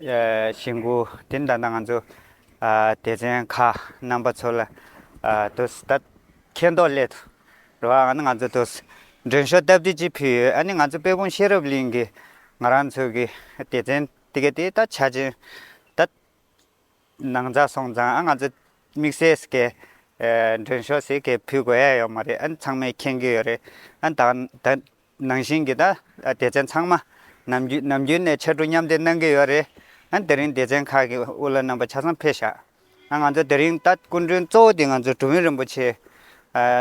ཞེ་འགུགས་དེ་འདྲ་ན་ང་ཚོ་སྡེ་ཚན་ཁག་རྣམ་པ་ཚོ་ལ་དུ་ད་མཁས་མདོག་སླད་དུ་རེ་བ་ཨ་ནི་ང་ཚོ་དུ་མགྲོན་ཤོག་སྟབས་བདེ་གཅིག་ཕུལ་ཡོད་ཨ་ནི་ང་ཚོ་དཔལ་སྤུངས་ཤེས་རབ་གླིང་གི་ང་རང་ཚོ་གི་སྡེ་ཚན་དེ་ག་དེ་ད་ཆ་ཆེན་ད་ནང་ཚགས་སོང་ཙང་ཨ་ང་ཚོ་དམིགས་བསལ་སི་ཀའི་མགྲོན་ཤོག་སི་ཀའི་ཕུལ་དགོས་ཡ་ཡོད་མ་རེད་ཨ་ནི་ཚང་མས་མཁྱེན་གྱི་ཡོད་རེད་ཨ་ནི་ད་ད་ནང་བཞིན་གྱི་དང་སྡེ་ཚན་ཚང་མ་ནམ་རྒྱུན་ནམ་རྒྱུན་ནས་ཕྱར་གྲུ་མཉམ་འདེགས་གནང་གི་ཡོད་རེད། དེ་རིང་སྡེ་ཚན་ཁག་གི་དབུ་བླ་རྣམ་པ་ཆ་ཚང་ཕེབས་ཤག་ང་ཚོ་དེ་རིང་ད་སྐུ་མགྲོན་གཙོ་བོ་དེ་ང་ཚོ་གྲུ་བོན་རིན་པོ་ཆེ་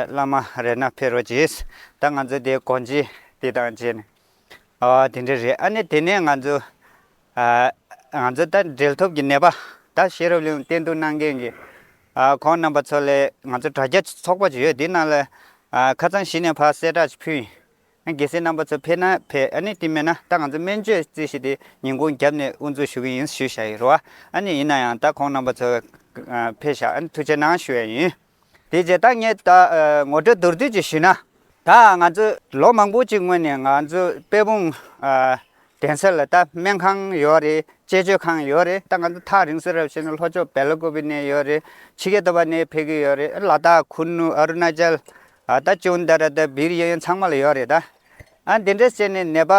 བླ་མ་རེད་ན་ཕེབས་རོགས་གྱིས་ད་ང་ཚོ་དེ་གོ་འབྱེད་དེ་དང་བཅས་ནས་འོ་དེ་འདྲ་རེད་ཨ་ནི་དེ་ནས་ང་ཚོ། ང་ཚོས་ད་འབྲེལ་ཐོབ་ཀྱི་ནད་པ་དང་ཤེས་རབ་གླིང་བསྟེན་གཏུགས་གནང་མཁན་གྱི་ཁོང་རྣམ་པ་ཚོ་ལས་ང་ཚོ་དྲ་རྒྱ་ཚོགས་པ་ཅིག་ཡོད་དེའི་ནང་ལ་ཁ་ཚང་བཞི་ནས་ཕར་གསལ་བསྒྲགས་ཅིག་ཕུལ། དགེ་སེར་རྣམ་པ་ཚོ་ཕེབས་ན་ཕེབས་ཨ་ནི་དེ་མེད་ན་ད་ང་ཚོ་སྨན་བཅོས་རྩིས་གཞི་དེ་ཉིན་གུང་རྒྱབ་ནས་དབུ་འཛུགས་ཞུ་གི་ཡིན་ཞུ་བཞག་ཡིན་རུང་ཨ་ནི་ཡིན་ན་ཡང་ད་ཁོང་རྣམ་པ་ཚོ་ཕེབས་ཞག་ཐུགས་ཆེ་གནང་ཞུ་ཡ་ཡིན། དེ་རྗེས་ད་ངས་ད་ངོ་སྤྲོད་མདོར་བསྡུས་ཀྱིས་ཞུས་ན། ད་ང་ཚོས་ལོ་མང་པོ་ཅིག་སྔོན་ནས་ང་ཚོས་དཔལ་སྤུངས་གདན་ས་ལ་ད་སྨན་ཁང་ཡོད་རེད་དཔྱད་བརྗོད་ཁང་ཡོད་རེད་ད་ང་ཚོ་ཐག་རིང་སོས་རབས་བྱས་ནས་ལྷོ་ཕྱོགས་བལ་ཀོ་བི་ནས་ཡོད་རེད་ཕྱི་རྒྱལ་དུ་བ་ནས་ཕེབས་ཀྱི་ཡོད་རེད་ལ་དྭགས་ཁུ་ནུ་ཨ་རུ་ན་ཅལ་ད་ཅུན་ད་ར་ད་བི་རི་ཡ་ཡན་ཚང་མ་ལ་ཡོད་རེད་ད། འདི་འདྲ་བྱས་ནས་ནད་པ་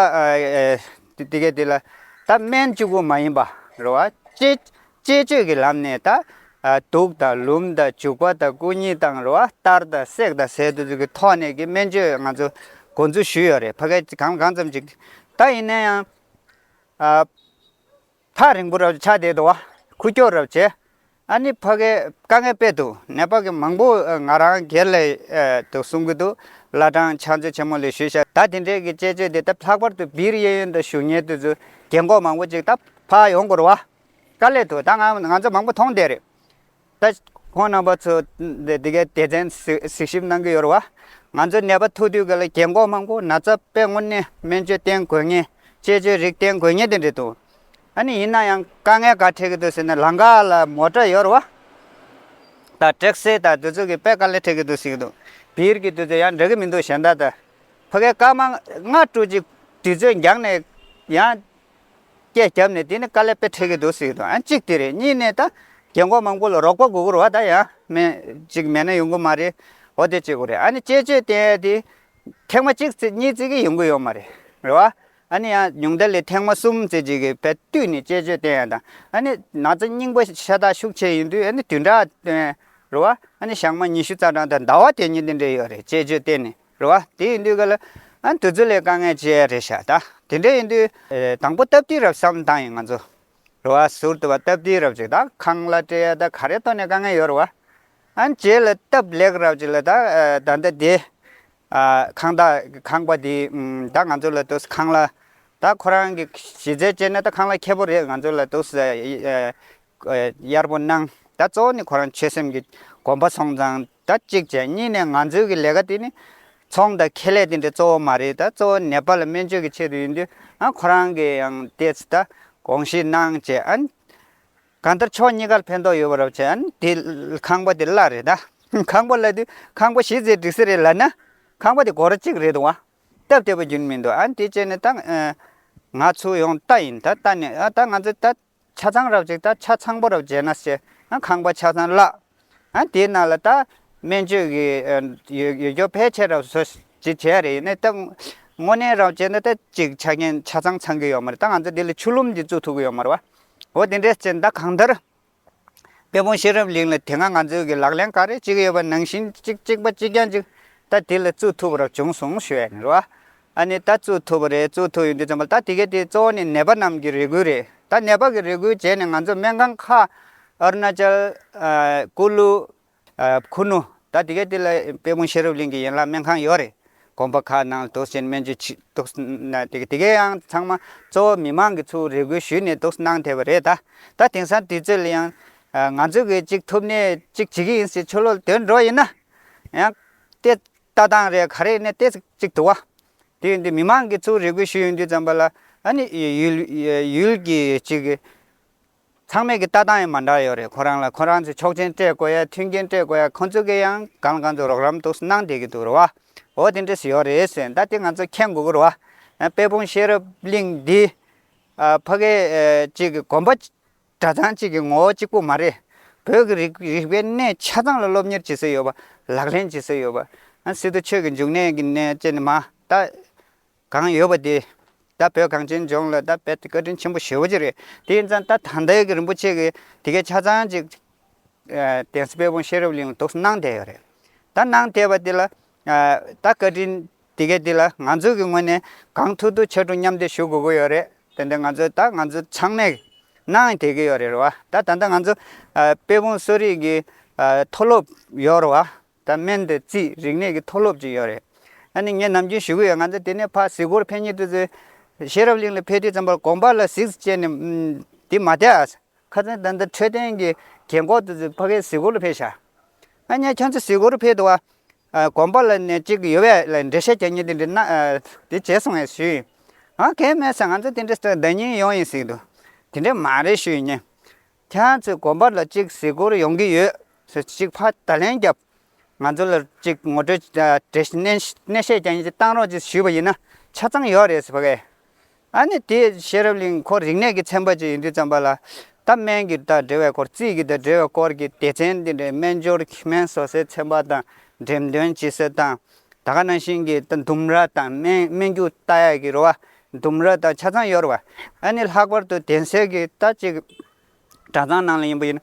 དེ་གའི་དེ་ལ་ད་སྨན་བཅུ་དགུ་མ་ཡིན་པ་རེད་བ། དཔྱད་བཅས་བཅོས་ཀྱི་ལམ་ནས་དང། དུག་དང་ལུམས་དང་བྱུག་པ་དང་སྐུ་ཉིད་དང་རུ་བ་གཏར་དང་བསྲེག་དང་ཟས་དུག་གི་ཐོག་ནས་ཀྱི་སྨན་བཅོས་ང་ཚོ་འགོ་འཛུགས་ཞུས་ཡོད་རེད་ཕ་གས་ཀྱི་གམ་གང་ཙམ་ཅིག་ད་ཡིན་ན་ཡང། ཐག་རིང་པོ་ར་བ་ཆགས་བསྡད་འདུག་བ་ཁུ་བསྐྱོར་ར་བ་བྱས། ཨ་ནི་ཕ་གས་དཀའ་ངལ་དཔེ་འདུག་ནད་པ་གི་མང་པོ་ང་རང་སྒེར་ལས་དུ་གསུང་གི་འདུག་བླ་བྲང་ཕྱག་མཛོད་ཆེན་མོ་ལས་ཞུས་ཤག་ད་དེ་འདྲས་ཀྱི་བཅས་བཅོས་དེ་ལྟ་ལྷག་པར་དུ་བིར་གཡས་གཡོན་དང་ཞུ་གཉེར་དུ་ཚུ་རྒྱལ་འགོག་མང་པོ་ཅིག་ད་ཕ་ཡོང་དགོས་རུ་བ། དཀའ་སླད་དུ་ད་ང་ང་ཚོ་མང་པོ་མཐོང་བསྡད་རེད། ད་ཁོང་རྣམ་པ་ཚོ་འདི་གའི་སྡེ་ཚན་གཟིགས་ཞིབ་གནང་གི་ཡོད་རེད་བ། ང་ཚོའི་ནད་པ་ཐུག་དུས་ག་ལ་རྒྱན་འགོག་མང་པོ་ན་ཚ་དཔེ་དངོས་གནས་སྨན་བཅོས་བསྟེན་དགོས་ངེས་དཔྱད་བཅོས་རིགས་བསྟེན་དགོས་ངེས་དེ་འདྲས་འདུག་ཨ་ནི་ཡིན་ན་ཡང་དཀའ་ངལ་ག་འཕྲད་ཀྱི་འདུག་ཟེར་ན་ལངྒ་ལ་མོ་ཏྲ་ཡོད་རེད་བ། ད་དྲེག་སེ་ད་དུས་ཚོད་ཀྱི་དཔེ་ག་ལ་འཕྲད་ཀྱི་འདུག་ཟེར་གྱི་འདུག་བིར་གྱི་དུས་ཚོད་ཡང་འགྲོ་གི་མི་འདུག་གཞན་དག་ད་ཕ་གའི་སྐར་མ་ལྔ་དྲུག་ཅིག་དུས་ཚོད་འགྱངས་ནས་ཡང། སྐད་བརྒྱབ་ནས་དེ་ནི་དཀའ་ལས་དཔེ་འཕྲད་ཀྱི་འདུག་ཟེར་གྱི་འདུག་གཅིག་དེ་རེད་གཉིས་ནས་ད་རྒན་འཁོགས་མང་པོ་ལ་རོགས་པ་དགོས་ཀྱི་རེད་ད་ཡང་མེད་ཅིག་མེད་ན་ཡོང་གི་མ་རེད་འོ་དེ་བྱེད་དགོས་རེད་ཨ་ནི་དཔྱད་བརྗོད་བསྟན་ཡས་དེ་ཐེངས་མ་གཅིག་བརྩིས་གཉིས་བརྩིས་ཀྱི་ཡོང་གི་ཡོད་མ་རེད་རེད་བ། ཨ་ནི་ཡང་ཉུང་མཐའ་ལས་ཐེངས་མ་གསུམ་བརྩིས་བརྗེས་ཀྱི་བལ་བཏུས་ནས་དཔྱད་བརྗོད་བསྟན་ཡས་དང་ཨ་ནི་ན་ཚ་སྙིང་པོ་ཤ་སྟག་ཤུགས་ཆེ་ཡིན་དུས་ཨ་ནི་དུས་འདྲ་བ་བཏོན་རེད་བ། ཨ་ནི་ཞག་མ་ཉི་ཤུ་རྩ་གྲངས་དང་ཟླ་བ་དེ་གཉིས་དེ་འདྲས་ཡོད་རེད་དཔྱད་བརྗོད་བསྟན་ནས། རེད་བ། དེ་ཡིན་དུས་ག་ལ། འདི་ཚོ་ལས་དཀའ་ངལ་ཅི་རེད་ཤག་ད། དེ་འདྲ་ཡིན་དུས། དང་པོ་སྟབས་བདེའི་རབས་སམ་ད་ཡིན་ང་ཚོ། རེད་བ། ཟུར་དུ་བ་སྟབས་བདེའི་རབས་ཅིག་ད་ཁང་ལ་སྤྲེལ་ཡ་ད་ག་རེ་ཐོག་ནས་དཀའ་ངལ་ཡོད་རེད་བ། རྗེས་ལ་སྟབས་ལེགས་རབས་ཅིག་ལ་ད་ད་ལྟ་དེ། ཁང་ད་ཁང་པ་དེ་ད་ང་ཚོ་ལ་ད་ཁང་ལ། ད་ཁོ་རང་གི་གཞི་རྩའི་སྤྱད་ན་ད་ཁང་ལ་ཁེ་པོ་རེད་ང་ཚོ་ལ་ད། གཡར་པོ་གནང་ད་གཙོ་བོ་ནི་ཁོ་རང་ཆོད་སེམས་ཀྱི་གོམ་པ་སོང་ཙང། ད་གཅིག་བྱས་གཉིས་ནས་ང་ཚོའི་གི་ལས་ཀ་དེ་ནི། ཚོང་དང་ཁེ་ལས་དེ་འདྲ་གཙོ་བོ་མ་རེད་ད་གཙོ་བོ་ནེ་པ་ལ་སྨན་བཅོས་ཀྱི་ཆེད་དུ་ཡིན་དུས་ཨང་ཁོ་རང་གི་ཡང་ལྟས་ད་དགོངས་བཞེས་གནང་བྱས་ཨང། གང་ལྟར་ཕྱོགས་གཉིས་ཀར་ཕན་ཐོག་ཡོད་པ་རོགས་བྱས་ཨང་དེ་ཁང་པ་དེ་གླ་རེད་ད། ཁང་པ་གླ་དུས་ཁང་པ་གཞི་རྩའི་སྒྲིག་སྲིད་རེད་ལབ་ན། ཁང་པ་དེ་སྒོ་ར་གཅིག་རེད་འདུག་ཨང་སྟབས་བདེ་པོ་རྒྱུན་མི་འདུག་ཨང་དེ་བྱས་ནས་ད། ང་ཚོ་ཡོང་ལྟ་ཡིན་ད་ལྟ་ནི་ཨང་ད་ང་ཚོ་ད། ཆ་ཚང་རབ་བྱེད་དང་ཆ་ཚང་པོ་རབ་བྱེད་ན་སེ་ན་ཁང་པ་ཆ་ཚང་བརླག། དེའི་ནང་ལ་ད་སྨན་བཅོས་ཀྱི་ཡོད་རྒྱུ་ཕལ་ཆེར་རབ་བཟོ་བྱེད་བྱས་རེད་ཡིན་ནའི་ད་དངོས་གནས་རབ་བྱེད་ན་ད་ཅིག་ཆ་རྐྱེན་ཆ་ཚང་ཚང་གི་ཡོད་མ་རེད་ད་ང་ཚོ་འདི་ལ་ཆུ་ལུམ་གྱི་བཙུགས་ཐུབ་ཀྱི་ཡོད་མ་རེད་བ། འོ་དེ་འདྲའི་ཚེ་ད་གང་ལྟར་དཔལ་སྤུངས་ཤེས་རབ་གླིང་ལ་དེ་སྔ་ང་ཚོའི་གི་ལག་ལེན་ག་རེ་ཅིག་ཡོད་པ་ནང་བཞིན་ཅིག་ཅིག་པ་ཅིག་རྐྱང་ཅིག་ད་དེ་ལ་བཙུགས་ཐུབ་པ་རབ་བྱུང་སོང་ཞུས་ཡ་ནི་རེད་བ། ཨ་ནི་ད་གཙོད་ཐུབ་པ་རེད་གཙོད་ཐུབ་ཡོད་འདུག་ཙམ་པ་ད་དེ་གས་དེ་གཙོ་བོ་ནི་ནད་པ་རྣམས་ཀྱི་རེ་སྒུལ་རེད་ད་ནད་པ་གི་རེ་སྒུལ་བྱས་ནས་ང་ཚོ་སྨན་ཁང་ཁག Arunachal། Kulu། Khunu། ད་དེ་གས་དེ་ལ་དཔལ་སྤུངས་ཤེས་རབ་གླིང་གི་ཡན་ལག་སྨན་ཁང་ཡོད་རེད་གོམ་པ་ཁག་ནང་དུག་སེལ་སྨན་བཅོས་བྱེད་དུག་ནད་དེ་གས་ཡང་ཚང་མ་གཙོ་བོ་མི་མང་གི་ཚོའུ་རེ་སྒུལ་ཞུས་ནས་དུག་གནང་ཐེབས་པ་རེད་ད་ད་དེང་སང་དུས་ཚོད་ལ་ཡང་ང་ཚོ་གིས་གཅིག་ཐུབ་ནས་གཅིག་བྱེད་ཀྱི་ཡིན་ཟེར་ཆོ་ལོ་དོན་འགྲོ་ཡིན་ན་ཡང་སྟེ། ལྟ་སྟངས་རེ་ག་རེ་ནས་བལྟས་ཚེ་གཅིག་འདུག་བ། དེ་ཡིན་དུས་མི་མང་གིས་ཚུར་རེ་སྐུལ་ཞུས་ཡོང་དུས་ཙམ་པ་ལ་ཨ་ནི་ཡུལ་ཡུལ་གྱི་གཅིག་གི། ཚང་མས་ཀྱི་ལྟ་སྟངས་ཡང་མ་འདྲ་ཡོད་རེད་ཁོ་རང་ལ་ཁོ་རང་ཚོས་ཆོག་མཆན་སྤྲད་དགོས་ཡ་མཐུན་རྐྱེན་སྤྲད་དགོས་ཡ་ཁོ་ཚོ་གི་ཡང་གང་ལ་གང་ཚོ་རོགས་རམ་དུ་གནང་བསྡད་ཀྱི་འདུག་རེད་བ། འོ་དེ་འདྲས་སུ་ཡོད་རེད་ཟེར་ཟླ་དེ་ང་ཚོ་མཁྱེན་དགོས་ཀྱི་རེད་བ། དཔལ་སྤུངས་ཤེས་རབ་གླིང་འདི། ཕ་གི་གཅིག་གི་གོམ་པ། སྒྲ་ཚང་གཅིག་གི་ངོ་བོ་གཅིག་པོ་མ་རེད། བོད་ཀྱི་རིགས་རིག་པའི་གནས་ཆ་ཚང་ལ་སློབ་གཉེར་བྱེད་སྲོལ་ཡོད་པ། ལག་ལེན་བྱེད་སྲོལ་ཡོད་པ། སི་ཏུ་ཆོས་ཀྱི་འབྱུང་གནས་ཀྱི་གནས་བཅས་ནི་མ་ད་གང་ཡོད་པ་དེ། ད་བོད་གངས་ཅན་ལྗོངས་ལ་ད་རྦད་དེ་བཀའ་དྲིན་ཆེན་པོ་ཞེ་བོ་ཅིག་རེད། དེ་ཡིན་ཙང་ད་ད་ལྟའི་གི་རིན་པོ་ཆེ་གི་དེ་གའི་ཆ་ཚང་གཅིག། གདན་ས་དཔལ་སྤུངས་ཤེས་རབ་གླིང་ལ་དུག་གསུམ་གནང་བསྡད་ཡོད་རེད། ད་གནང་བསྡད་པ་དེ་ལ། ད་བཀའ་དྲིན་དེ་གས་འདི་ལ་ང་ཚོས་གི་ངོས་ནས་གང་ཐུབ་ཐུབ་ཆེ་ཕྲུག་མཉམ་བསྡེབས་ཞུ་དགོས་གི་ཡོད་རེད་དེ་འདི་ང་ཚོས་ད་ང་ཚོ་ཚང་མས་གནང་དེ་གི་ཡོད་རེད་བ་ད་ད་ལྟ་ང་ཚོ་དཔལ་སྤུངས་གསོ་རིག་གི་མཐོ་སློབ་ཡོད་རེད་བ་ད་སྨན་དེ་རྩིས་རིག་གནས་གི་མཐོ་སློབ་ཅིག་ཡོད་རེད་ཨ་ནི་ངས་ནམ་རྒྱུན་ཞུ་གི་ཡོད་ང་ཚོ་དེ་ནས་ཕ་གཟིགས་སྐོར་ཕན་ཉེ་དུ་ཚོས་ཤེས་རབ་གླིང་ལ་ཕེབས་དུས་ཙམ་པར་དགོངས་པ་ལ་གཟིགས་བཅས་ནས་འདི་མ་བལྟས་ཨ་ཁ་ཚོན་ད་འདི་འཕྲོད་བསྟེན་གི་རྒན་ཁོག་དུ་ཚོས་ཕ་གའི་གཟིགས་སྐོར་ལ་ཕེབས་ཤག་ཨ་ཉེ་ཁྱོད་ཚོ་གཟིགས་སྐོར་ཕེབས་འདུག་བ་དགོན་པ་ལ་ནས་ཅིག་ཡོད་བས་ལ་འདྲེ་ཤེས་ཀྱང་ཉིད་དེ་འདྲི་ན་དེ་བྱེད་སོང་ངས་ཞུས། ཨ་གས་སྨྲས་སོ་ང་ཚོ་དེ་འདྲི་ས་བདག་ཉིད་ཡོང་ཡིན་ཟིག་འདུག་དེ་འདྲི་མ་རེད་ཞུས་ཉེས། ཁྱེད་ཚོས་དགོན་པ་ལ་ཅིག་གཟིགས་སྐོར་ཡོང་གི་ཡོད་ཟེར་ཅིག་ཕ་ད་ལན་རྒྱབ། ང་ཚོ་ལ་ཅིག་ངོ་སྤྲོད་འདྲེ་ཤེས་ཀྱང་ཉིད་དེ་བཏང་རོགས་ཅིག་ཞུས་པ་ཡིན་ན་ཆ་ཚང་ཡོད་རེད་ཟེར་བས། ཨ་ནི་དེ་ཤེས་རབ་གླིང་འཁོར་རིག་གནས་ཀྱི་ཚན་པ་ཅིག་ཡིན་དུས་བརྩམས་པ་ལ། ད་སྨན་གྱི་དང་འབྲེལ་བའི་སྐོར་རྩིས་ཀྱི་དང་འབྲེལ་བའི་སྐོར་གྱི་སྡེ་ཚན་འདི་འདྲའི་སྨན་སྦྱོར་གྱི་སྨན་བཟོ་སའི་ཚན་པ་དང་འགྲེམས་སྟོན་བྱེད་སའི་དང། ད་ག་ནང་བཞིན་གྱི་ད་ལྡུམ་ར་དང་སྨན་སྨན་རྒྱུ་ལྟ་ཡག་གི་རུ་བ་ལྡུམ་ར་དང་ཆ་ཚང་ཡོད་རུ་བ། ཨ་ནི་ལྷག་པར་དུ་གདན་སའི་གི་ད་ཅིག་གྲྭ་ཚང་ནང་ལ་ཡིན་པ་ཡིན།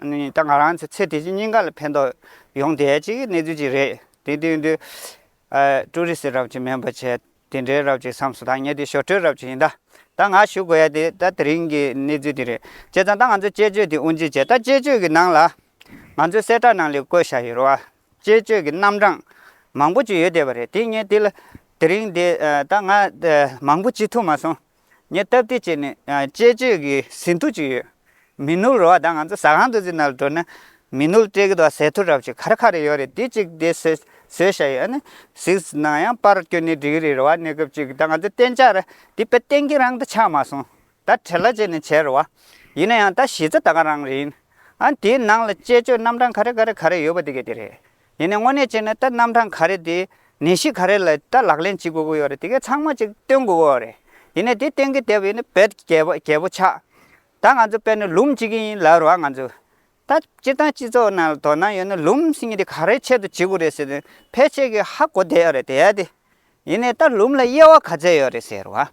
ད་ང་རང་ཚོ་ཚེ་འདི་བཞིན་སྙིང་ག་ལ་ཕན་ཐོགས་ཡོང་བསྡད་ཅིག་གི་གནས་ཚུལ་ཅིག་རེད། དེ་དོན་དུ། ཀྲུའུ་རི་སི་རབ་ཅིག་མེན་པོ་ཆེ་དེ་འདྲའི་རབ་ཅིག་བསམས་སོ་ད་ངས་དེ་ཞོར་འཕྲུལ་རབ་ཅིག་ཡིན་ད། ད་ང་ཞུ་དགོས་ཡ་དེ་ད་དེ་རིང་གི་གནས་ཚུལ་དེ་རེད། བྱས་ཙང་ད་ང་ཚོས་དཔྱད་བརྗོད་དེ་དབུ་འབྱེད་བྱས་ད་དཔྱད་བརྗོད་ཀྱི་ནང་ལ། ང་ཚོའི་གསལ་བསྒྲགས་ནང་ལས་བཀོད་བཞག་ཡོད་རོ། དཔྱད་བརྗོད་ཀྱི་རྣམ་གྲངས་མང་པོ་ཅིག་ཡོད་བསྡད་པ་རེད་དེ་ངས་དེ་ལ་དེ་རིང་དེ་ད་ང་མང་པོ་བྱེད་ཐུབ་མ་སོང། ངས་སྟབས་བདེ་སྤྱད་ནས་དཔྱད་བརྗོད་ཀྱི་ཟིན་ཐོ་བྱུས་ཡོད། མི་ནུབ་རོ་བ་ད་ང་ཚོ་ཟ་ཁང་དུ་ཟིན་ན་འགྲོ་ན། མི་ནུབ་སྤྲེལ་གྱི་དོ་ཟེ་ཐུ་རབས་ཅིག་ག་རེ་ག་རེ་ཡོད་རེད་དེ་གཅིག་དེ་ཟོས་ཟོས་ཤ་ཡོད་ཨ་ནི། ཟིག་ན་ཡང་པར་བསྐྱོན་ནས་འགྲིག་གི་རེད་རོ་བ་གནས་སྐབས་ཅིག་ད་ང་ཚོ་གཏན་འཇགས་རེད་དེ་པེ་ཏན་གྱི་རང་ད་ཆགས་མ་སོང། ད་བྲེ་ལ་བྱས་ནས་བྱས་རོ་བ། ཡིན་ན་ཡང་ད་གཞི་རྩ་ད་ག་རང་རེད་ཡིན། ཨ་དེའི་ནང་ལ་དཔྱད་བརྗོད་རྣམ་གྲངས་ག་རེ་ག་རེ་ག་རེ་ཡོད་པ་དེ་ག་དེ་རེད། ཡིན་ནའི་དངོས་གནས་བྱས་ན་ད་རྣམ་གྲངས་ག་རེ་དེ་ནད་གཞི་ག་རེ་ལ་ད་ལག་ལེན་བྱེད་དགོས་ཀྱི་ཡོད་རེད་དེ་གས་ཚང་མ་ཅིག་བཏོན་དགོས་ཀྱི་ཡོད་རེད་ཡིན་ནའི་དེ་བཏོན་གྱི་བསྡད་པ་ཡིན་ན་བེད་རྒྱལ་བ་རྒྱལ་པོ་ཆགས། ད་ང་ཚོ་དཔལ་ནི་ལུམས་བྱེད་ཀྱི་ཡིན་ལབ་རོགས་ང་ཚོ། ད་སྤྱིར་བཏང་སྤྱི་ཚོགས་ནང་ལ་དོ་སྣང་ཡོད་ན་ལུམས་སེང་གེ་དེ་ག་རེའི་ཆེད་དུ་བྱེད་དགོས་རེད་ཟེར་ནས་ཕལ་ཆེར་གྱི་ཧ་གོ་བསྡད་ཡོད་རེད་དེ། ཡིན་ནའི་ད་ལུམས་ལ་དབྱེ་བ་ག་ཚད་ཡོད་རེད་ཟེར་བ།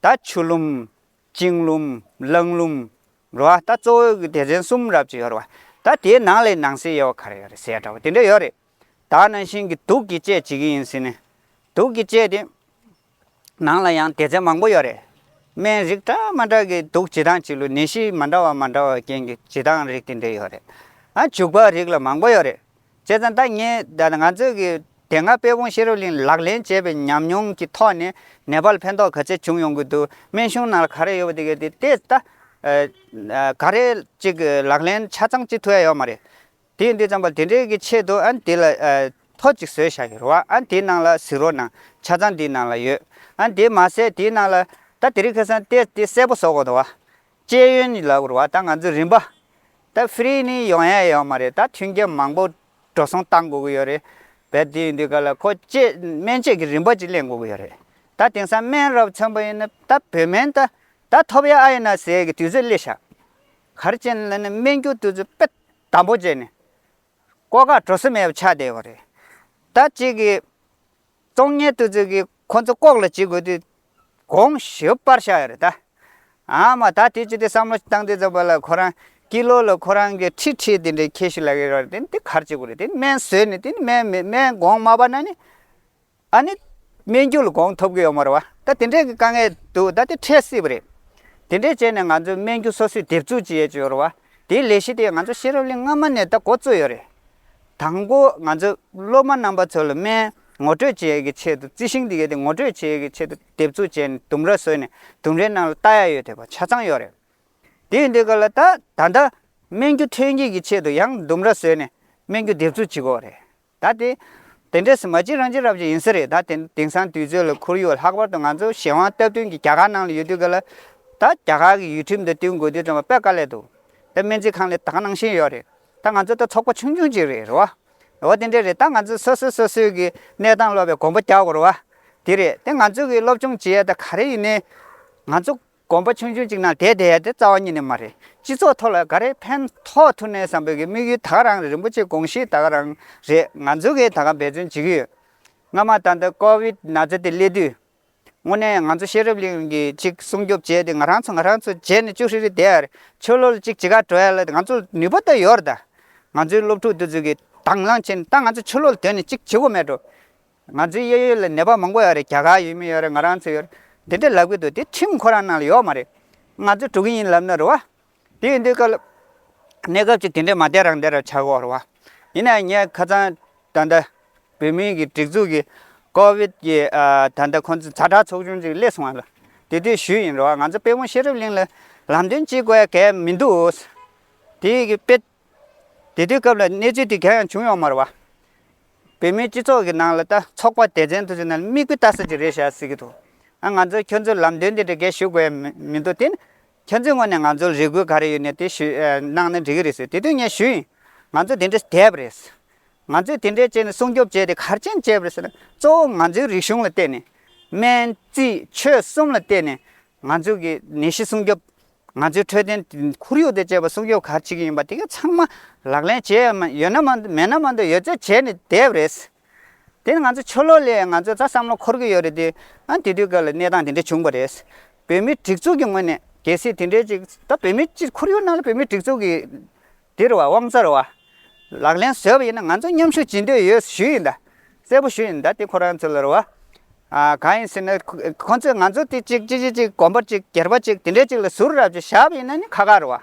ད་ཆུ་ལུམས། བཅིངས་ལུམས་བརླང་ལུམས། འགྲོ་བ་ལྟ་གཙོ་བོའི་སྡེ་ཚན་གསུམ་རབ་ཅིག་ཡོད་རེད་བ། ད་དེའི་ནང་ལས་ནང་སེལ་ཡོད་བ་ག་རེ་ཡོད་རེད་ཟེར་ཡ་འདྲ་བ་དེ་འདྲ་ཡོད་རེད། ད་ནང་བཞིན་གྱི་དུག་གི་དཔྱད་བྱེད་ཀྱི་ཡིན་སྲིད་ནས། དུག་གི་དཔྱད་དེ། ནང་ལ་ཡང་སྡེ་ཚན་མང་པོ་ཡོད་རེད། སྨན་རིགས་འདྲ་མ་འདྲ་གི་དུག་བྱེད་སྟངས་གཅིག་ལུས་ནད་གཞི་མ་འདྲ་བ་མ་འདྲ་བ་རྐྱེན་གྱི་བྱེད་སྟངས་རིགས་དེ་འདྲ་ཡོད་རེད། ཨ་འཇུག་པ་རིགས་ལ་མང་པོ་ཡོད་རེད། བྱས་ཙང་ད་ངས་ང་ཚོས་ཀྱི་དེ་སྔ་དཔལ་སྤུངས་ཤེས་རབ་གླིང་ལག་ལེན་བྱས་པའི་ཉམས་མྱོང་གི་ཐོག་ནས་ནེ་པ་ལ་ཕན་ཐོག་ག་ཚད་བྱུང་ཡོང་གི་འདུག་སྨན་གཞུང་ནང་ལ་ག་རེ་ཡོད་པ་དེ་གས་དེ་དེ་ད་ག་རེ་ཅིག་ལག་ལེན་ཆ་ཚང་ཅིག་ཐུབ་ཡ་ཡོད་མ་རེད། དེ་འདི་ཙམ་པ་དེ་འདྲའི་གི་ཆེད་དུ་ཨ་ནི་དེ་ལ་ཐོ་ཅིག་བཟོས་བཞག་ཡོད་རེད་བ་ཨ་ནི་དེའི་ནང་ལ་གཟིགས་རོགས་གནང་ཆ་ཚང་དེའི་ནང་ལ་ཡོད་ཨ་ནི་དེ་མ་ཟད་དེའི་ནང་ལ་ད་དེ་རིགས་ཁེ་སང་ཏེ་དེ་གསལ་པོ་བཟོ་དགོས་འདུག་བ་ཅེས་ཡོན་ནི་ལབ་རོགས་ད་ང་ཚོ་རིན་པ་ད free ནི་ཡོང་ཡ་ཡོད་མ་རེད་ད་མཐུན་རྐྱེན་མང་པོ་འགྲོ་སོང་གཏང་དགོས་ཀྱི་ཡོད་རེད་བས་དེ་ཡིན་དུས་ག་ལ་ཁོ་བཅས་སྨན་བཅས་ཀྱི་རིན་པ་ཅིག་གླེང་དགོས་ཀྱི་ཡོད་རེད་ད་དེང་སང་སྨན་རབ་ཚོན་པོ་ཡིན་ན་ད་བོད་སྨན་ད་ད་ཐོབ་ཡ་ཨ་ཡིན་ན་ཟས་ཀྱི་དུས་ཚོད་སླེ་ཞག་གར་ཅན་ལ་ནི་སྨན་རྒྱུ་དུས་ཚོད་དཔེ་དམ་པོ་བཅད་ནས་ཀོ་ཁ་བྲོ་སི་མེད་པ་ཆགས་བསྡད་ཡོད་རེད་ད་གཅིག་གིས། གཏོང་གཉེར་དུ་ཚོད་ཀྱིས་ཁོ་ཚོ་ལྐོག་ལ་བྱེད་དགོས་དུས་དགོངས་ཞུ་དཔར་ཤག་རེད་ད། ཨ་མ་ད་དེ་ཅི་སྟེ་བསམ་བློ་བཏང་དུས་ཚོད་པ་ལ་ཁོ་རང་ཀི་ལོ་ལ་ཁོ་རང་གི་ཁྲི་ཁྲི་དེ་འདྲའི་ཁྱེར་ཤི་ལ་ཡོད་རེད་དེ་གར་བྱེད་དགོས་རེད་དེ་སྨན་བཟོས་ནས་དེ་སྨན་མེད་སྨན་དགོངས་མ་པ་ན་ནི་ཨ་ནི་སྨན་རྒྱུ་ལ་དགོངས་ཐོབ་ཀྱི་ཡོད་མ་རེད་བ་ད་དེ་འདྲའི་གི་དཀའ་ངལ་འདུག་ད་དེ་འཕྲད་སྲིད་པ་རེད། དེ་འདྲས་བྱས་ནས་ང་ཚོས་སྨན་རྒྱུ་སོ་སོས་འདེབས་འཛུགས་བྱེད་ཡས་ཀྱི་ཡོད་རེད་བ་དེའི་ལས་གཞི་དེ་ང་ཚོ་ཤེས་རབ་གླིང་སྔ་མ་ནས་ད་འགོ་བཙུགས་ཡོད་རེད་དང་པོ་ང་ཚོ་སློབ་མ་རྣམ་པ་ཚོ་ལ་སྨན་ངོ་སྤྲོད་བྱེད་ཡག་གི་ཆེད་དུ་རྩི་ཤིང་འདི་གས་དེ་ངོ་སྤྲོད་བྱེད་ཡག་གི་ཆེད་དུ་དེབ་ཚུགས་བྱས་ནས་དུམ་ར་བཟོས་ནས་དུམ་རའི་ནང་ལ་རྟ་ཡག་ཡོད་ཐེ་བ་ཆ་ཚང་ཡོད་རེད། དེ་ཡིན་དུས་ཀ་ལ་ད་ད་ལྟ་སྨན་རྒྱུ་ཐོན་སྐྱེད་ཀྱི་ཆེད་དུ་ཡང་དུམ་ར་བཟོས་ནས་སྨན་རྒྱུ་དེབ་ཚུགས་བྱེད་དགོས་རེད། ད་དེ་དེ་འདྲས་སུ་མ་བྱེད་རང་བྱེད་རབ་བྱེད་ཡིན་ས་རེད་ད་དེ་དེང་སང་དུས་ཚོད་ལ་ཁོར་ཡུག་ལྷག་པར་དུ་ང་ཚོ་གཞན་དབང་སྟབས་བསྟུན་གྱི་རྒྱ་གར་ནང་ལ་ཡོད་དུས་ཀ་ལ་ད་རྒྱ་གར་གྱི་ཡུལ་ཁྲིམས་དང་བསྟུན་དགོས་དུས་ཙམ་བ་དཔེ་ཀ་ལས་འདུག་ད་སྨན་རྩིས་ཁང་ལས་ད་ག་ནང་བཞིན་ཡོད་རེད། ད་ང་ཚོ་ད་ཚོགས་པ་ཆུང་ཆུང་ཅིག་རེད་རེད་བ། འོ་དེ་འདྲ་རེད་ད་ང་ཚོས་སོ་སོས་སོ་སོའི་གི་གནས་སྟངས་སློབ་པའི་གོང་བུ་རྒྱག་དགོས་རེད་བ། དེ་རེད་དེ་ང་ཚོས་གི་སློབ་སྦྱོང་བྱེད་ཡ་ད་ག་རེ་ཡིན་ནའི། ང་ཚོ་གོམ་པ་ཆུང་ཆུང་ཅིག་ནང་བསྡད་བསྡད་ཡ་དེ་རྩ་བ་ཉིད་ནས་མ་རེད་སྤྱི་ཚོགས་ཐོག་ལ་ག་རེ་ཕན་ཐོགས་ཐུབ་ནའི་བསམ་པའི་གི་དམིགས་ཡུལ་ད་ག་རང་རེད་རིན་པོ་ཆེ་དགོངས་གཞི་ད་ག་རང་རེད་ང་ཚོས་གི་ད་ག་འབད་བརྩོན་བྱེད་གི་ཡོད། སྔ་མ་ད་ལྟ་ཀོ་བིད་ན་ཚ་དེ་སླེབས་དུས། དངོས་གནས་ང་ཚོ་ཤེས་རབ་གླིང་གི་ཅིག་སྲུང་སྐྱོབ་བྱས་ཏེ་ང་རང་ཚོ་ང་རང་ཚོ་བྱས་ནས་ཅུ་ཧྲི་རི་དེ་ཡར་ཆོས་ལོ་ལ་ཅིག་ཅི་ག་བྲོ་ཡ་ལ་ང་ཚོ་ནུས་པ་ད་ཡོར་ད། ང་ཚོའི་སློབ་ཕྲུག་དུ་ཚོད་ཀྱི་དང་བླང་བྱས་ནས་ད་ང་ཚོ་ཆོས་ལོ་ལ་དོན་ནས་ཅིག་བྱེད་དགོས་མེད་འགྲོ། ང་ཚོའི་གཡས་གཡོན་ལ་ནད་པ་མང་པོ་ཡོད་རེད་རྒྱ་གར་ཡོད་མི་ཡོད་རེད་ང་རང་ཚོ་ཡོད་རེད་འདི་འདྲ་ལབ་ཀྱི་འདུག་དེ་ཁྲིམས་ཁོ་རང་ནང་ལ་ཡོད་མ་རེད། ང་ཚོ་འགྲོ་གི་ཡིན་ལབ་ན་རུ་བ་དེ་ཡིན་དུས་སྐབས་གནས་སྐབས་ཀྱི་དེ་འདྲའི་མ་བདེ་རང་བདེ་རུ་འཆར་བར་བ། ཡིན་ནའང་ངས་ཁ་ཚང་ད་ལྟ་བོད་མིའི་གི་སྒྲིག་འཛུགས་ཀྱི་ཀོ་བིད་ཀྱི་ད་ལྟ་ཁོང་ཚོ་ཚ་དྲག་ཚོགས་ཆུང་ཅིག་སླེབས་སོང་བ་ལ་དེ་དུས་ཞུས་ཡིན་རུང་བ་ང་ཚོ་དཔེ་བོང་ཤེས་རབ་གླིང་ལ་ལམ་སྟོན་ཅིག་དགོས་གལ་མི་འདུག། དེ་ཡི་གི་དཔེ། དེ་དུས་སྐབས་ལ་གནས་ཚུལ་དེ་གང་ཡང་བྱུང་ཡོང་མར་བ། བོད་མིའི་སྤྱི་ཚོགས་ཀྱི་ནང་ལ་ད་ཚོགས་པ་སྡེ་ཚན་དུ་ཅིག་ནང་ལ་དམིགས་དཔེ་ལྟ་ས་ཅིག་རེད་བཞག་སྲིད་ཀྱི་འདུག་ང་ཚོ་ཁྱོད་ཚོ་ལམ་སྟོན་དེ་འདྲ་གས་ཞུ་དགོས་མི་འདུག་དེ་ནི། ཁྱེད་ཚོའི་སྔོན་ནས་ང་ཚོ་ལ་རེ་སྐུལ་ག་རེ་ཡོད་ནས་དེ་ཞུས་གནང་ན་འགྲིག་གི་རེད་ཟེར་དེ་དུས་ངས་ཞུས་ཡིན། ང་ཚོ་དེ་འདྲས་བསྡད་པ་རེད། ང་ཚོས་དེ་འདྲས་བྱས་ནས་སྲུང་སྐྱོབ་བྱས་ཏེ་གར་མཆན་བཅད་པ་རེད་ཟེར་ན་གཙོ་བོ་ང་ཚོའི་རིག་གཞུང་ལ་བལྟས་ནས། སྨན། རྩིས། ཆོས་གསུམ་ལ་བལྟས་ནས་ང་ཚོས་གི་ནད་གཞི་སྲུང་སྐྱོབ། ང་ཚོའི་འཕྲོད་བསྟེན་ཁོར་ཡུག་དང་བཅས་པ་སྲུང་སྐྱོབ་གར་བྱེད་ཀྱི་ཡིན་པ་དེ་ག་ཚང་མ་ལག་ལེན་བྱས་ཡོད་ན་མ་མེད་ན་མ་གཏོགས་ཡོད་ཚད་བྱས་ནས་བསྡད་པ་རེད། དེ་ནི་ང་ཚོ་ཆོས་ལོག་ལས་ང་ཚོའི་རྩ་བསམ་བློ་འཁོར་གྱི་ཡོད་རེད་དེ། ཨ་དེ་དུས་སྐབས་ལ་གནས་སྟངས་དེ་འདྲ་བྱུང་པ་རེད། བོད་མིའི་སྒྲིག་འཛུགས་ཀྱི་ངོས་ནས་གལ་སྲིད་དེ་འདྲའི་ཅིག་ད་བོད་མི་སྤྱི་ཁོར་ཡུག་ནང་ལ་བོད་མིའི་སྒྲིག་འཛུགས་ཀྱི། འདིར་བ་དབང་རྩར་བ། ལག་ལེན་བཟོས་པ་ཡིན་ན་ང་ཚོ་མཉམ་ཞུགས་བྱེད་འདོད་ཡོད་ཞུས་ཡིན་ད། གསལ་པོ་ཞུས་ཡིན་ད་དེ་ཁོ་རང་ཚོ་ལར་བ། གང་ཡིན་ཟེར་ན་ཁོ་ཚོས་ང་ཚོ་དེ་ཅིག་ཅི་ཞིག་ཅིག་གོམ་པ་ཅིག་གྱེར་པ་ཅིག་དེ་འདྲའི་ཅིག་ལ་ཟུར་ར་བཅུ་བཞག་པ་ཡིན་ན་ནི་ཁ་ཁར་བ།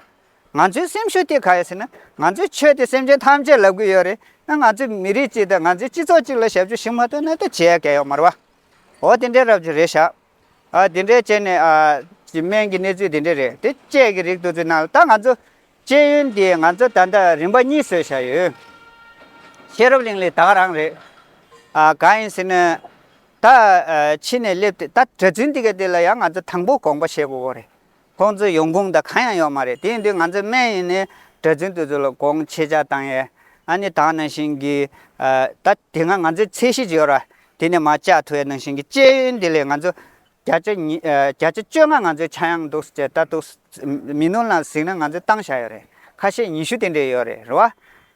ང་ཚོའི་སེམས་ཤུགས་དེ་ག་ཡིན་ཟེར་ན་ང་ཚོས་ཆོས་དེ་སེམས་ཅན་ཐམས་ཅད་ལབ་གི་ཡོད་རེད་ན་ང་ཚོས་མི་རིགས་གཅིག་དང་ང་ཚོའི་སྤྱི་ཚོགས་གཅིག་ལ་ཞབས་ཞུ་ཞིག་མ་ཐོན་ན་དེ་བྱས་ཡག་གལ་ཡོག་མར་བ། འོ་དེ་འདྲའི་རབ་བྱུང་རེད་ཤག། ཨ་དེ་འདྲའི་བྱས་ནས་ཨ། སྨན་གྱི་གནས་ཚུལ་དེ་འདྲའི་རེད་དེ་དཔྱད་ཀྱི་རིགས་དུ་ཚུད་ན་ད་ང་ཚོ། སྤྱད་ཡོན་དེ་ང་ཚོ་ད་ལྟ་རིམ་པ་གཉིས་བཟོས་བཞག་ཡོད། ཤེས་རབ་གླིང་ལས་དྭགས་རང་རེད། ཨ་ག་ཡིན་ཟེར་ན། ད་ཕྱི་ནས་སླེབས་ཏེ་ད་གྲྭ་བཙུན་འདི་ག་དེ་ལ་ཡང་ང་ཚོ་དང་པོ་དགོངས་པ་བཞེས་དགོས་དགོས་རེད། ཁོང་ཚོས་ཡོང་ཁུངས་དང་གང་ཡང་ཡོད་མ་རེད་དེ་འདི་ང་ཚོའི་སྨན་ཡིན་ནི་གྲྭ་བཙུན་དེ་ཚོ་ལ་དགོངས་ཆེ་ཆ་དང་ཡས་ཨ་ནི་དག་ནང་བཞིན་གི་ད་དེ་སྔ་ང་ཚོའི་ཚད་གཞི་ཅིག་ཡོད་ར་དེ་ནས་མ་བཅག་ཐུ་ཡས་ནང་བཞིན་གི་སྤྱད་ཡོན་དེ་ལས་ང་ཚོ་བརྒྱ་ཆ་ཉི་བརྒྱ་ཆ་བཅོ་ལྔ་ང་ཚོའི་ཆ་ཡང་འདུག་ཅེས་ལྟ་ཐུག་མི་ནོར་ནང་གཟིགས་ན་ང་ཚོའི་བཏང་བཞག་ཡོད་རེད་ཁ་ཤས་ཉི་ཤུ་དེ་འདྲས་ཡོད་རེད་རེད་བ་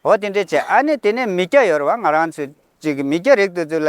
འོ་དེ་འདྲས་བྱས་ཨ་ནི་དེ་ནས་མི་སྐྱ་ཡོད་རེད་བ་ང་རང་ཚོས་ཅིག་མི་སྐྱ་རིགས་དེ་ཚོ་ལ་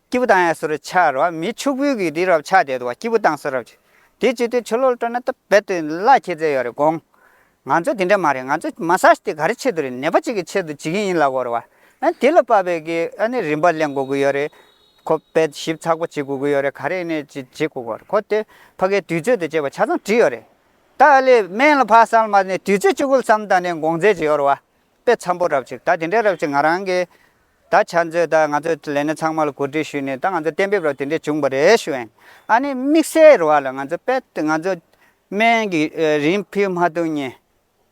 སྐྱེས་བུ་དང་ཡང་སོ་རུ་འཆར་བ་མིའི་ཕྱུག་པོའི་གིས་དེའི་རབ་ཆགས་དེ་དུ་བ་སྐྱེས་བུ་དང་སོ་རབ་ཅིག། དེའི་ཕྱི་དོན་ཆུ་ལོག་སྤྲོ་ན་སྟབས་བེད་དུ་གླ་ཁྱེད་རྩལ་ཡོད་རེད་དགོངས། ང་ཚོ་དེ་འདྲ་མ་རེད་ང་ཚོ་མ་ས་ཏེ་ག་རེ་ཆེད་དུ་རེད་ནད་པ་གཅིག་གི་ཆེད་དུ་བྱེད་ཀྱིན་ཡིན་ལ་བོར་བ། ཨ་དེ་ལ་དཔའ་བོའི་གིས་ཨ་ནི་རིན་པ་གླེང་དགོས་ཀྱི་ཡོད་རེད། ཁོ་དཔེ་ཞིབ་ཚགས་པོ་བྱེད་དགོས་ཀྱི་ཡོད་རེད་ག་རེ་ནས་ཅིག་བྱེད་དགོས་ཀྱི་ཁོ་དེ་ཕ་གའི་དུས་ཚོད་དུ་བྱས་པ་ཆ་ཚང་བྲིས་ཡོད་རེད། ད་ཨ་ལས་སྨན་ལ་ཕ་སངས་མ་ནས་དུས་ཚོད་བཅུ་དགུ་ལྷག་ཙམ་ད་ནས་དགོངས་མཛད་ཅིག་ཡོད་རེད་བ། དཔེ་འཚམ་པོ་རབ་ཅིག་ད་དེ་འདྲའི་རབ་ཅིག་ང་རང་གིས་ད་ཆ་ཚོས་ད་ང་ཚོས་ལས་སྣེ་ཚང་མ་ལ་གོ་སྒྲིག་ཞུས་ནས་ད་ང་ཚོས་གཏན་འབེབས་རོགས་དེ་འདྲས་བྱུང་བ་རེད་ཞུས་ཨེ། ཨ་ནི་དམིགས་བསལ་རུ་བ་ལ་ང་ཚོ་པད་ང་ཚོ་སྨན་གྱི་རིན་ཕུད་མ་ཐུག་ཉེ།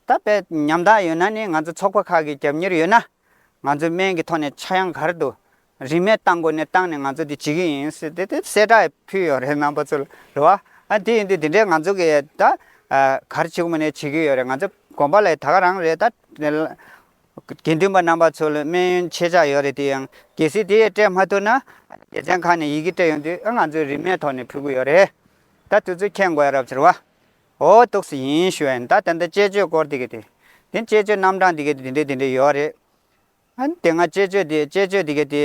ད་པད་ཉམས་ཐག་ཡོད་ན་ནི་ང་ཚོ་ཚོགས་པ་ཁག་གི་རྒྱབ་གཉེར་ཡོད་ན། ང་ཚོས་སྨན་གྱི་ཐོག་ནས་ཆག་ཡང་གར་དུ་རིན་མེད་བཏང་དགོས་ནས་བཏང་ནས་ང་ཚོ་དེ་བྱེད་ཀྱི་ཡིན་ཟེར་ཏེ་དེ་གསལ་བསྒྲགས་ཕུལ་ཡོད་རེད་རྣམ་པ་ཚོ་རུ་བ། ཨ་དེ་ཡིན་དུས་དེ་འདྲས་ང་ཚོ་གིས་ད་གར་བྱེད་དགོས་མ་ནས་བྱེད་ཀྱི་ཡོད་རེད་ང་ཚོ་གོམ་པ་ལ་ད་ག་རང་རེད་ད། དགེ་འདུན་པ་རྣམ་པ་ཚོ་ལ་སྨན་ཡོན་ཆེ་ཆག་ཡོད་རེད་དེ་ཡང་གལ་སྲིད་དེ་ཡས་སྤྲད་མ་ཐུབ་ན་སྡེ་ཚན་ཁག་ནས་ཡི་གེ་སྤྲད་ཡོང་དུས་ང་ཚོས་རིན་མེད་ཐོག་ནས་ཕུལ་གི་ཡོད་རེད་ད་དུས་ཚོད་ཁྱད་མགོ་ཡ་རབས་ཚོར་བ་འོ་གཏུགས་སུ་ཡིན་ཞུ་ཡ་ཡིན་ད་ད་ལྟ་དཔྱད་བརྗོད་སྐོར་དེ་གི་དེ་དེ་དཔྱད་བརྗོད་རྣམ་གྲངས་དེ་གི་དེ་འདྲའི་དེ་འདྲའི་ཡོད་རེད་ཨང་དེ་སྔ་དཔྱད་བརྗོད་དེ་དཔྱད་བརྗོད་དེ་གི་དེ་